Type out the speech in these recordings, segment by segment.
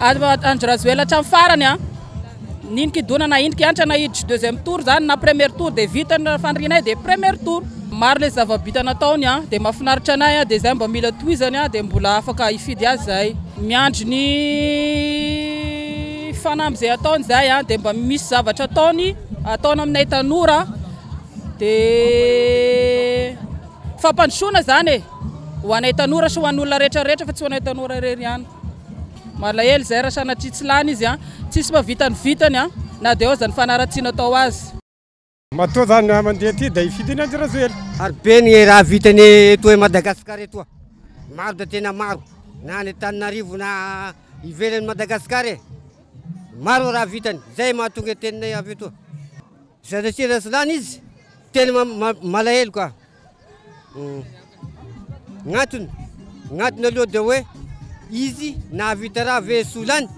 Andry Rajoelina hatramin'ny farany a. Nino kidona na ino kiantra na hiditry deuxième tour zany na premier tour dia vita ny fanirianay dia premier tour. Maro ilay zava-bita nataony a, dia mahafinaritra anay a, dia izay mba mila tohizany a, dia mbola afaka hifidy azy izahay. Miandry ny fanamby izay ataony izahay a, dia mba misy zavatra ataony, ataony aminay tanora, dia fampandrosoana izany e. Ho anay tanora sy ho an'olona rehetra rehetra fa tsy ho anay tanora irery ihany. Malahelo izay raha sanatria tsy lany izy an! Tsisy mba vita ny vitany an! Na dia ao aza ny fanaratsiana atao azy. Matoa zany raha mandeha aty dia hifidy ny an-dRajoely. Ary be ny raha vitany eto Madagascar eto a! Maro dia tena maro, na any Antananarivo na ivelan'i Madagascar e! Maro ny raha vitany, izay mahatonga teninay avy eto. Sanatria raha tsy lany izy, tena malahelo ka! Ny antony, ny antony aloha dia hoe izy nahavita raha ve solany?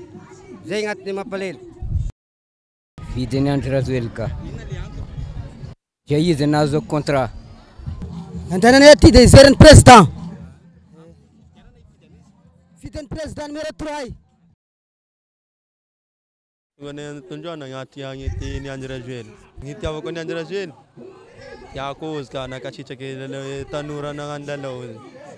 Zay ny antony mampalahelo. Vide ny Andry Rajoelina ka. Dia izy nahazo contrat. Andehananay aty dia hijery ny président. Vidin'ny président numéro trois. Tonga any an-tondroana agnaty agn'ity ny Andry Rajoely. Ny itiavako ny Andry Rajoely dia cause ka nankasitraka ilay tanora nagnano lalao.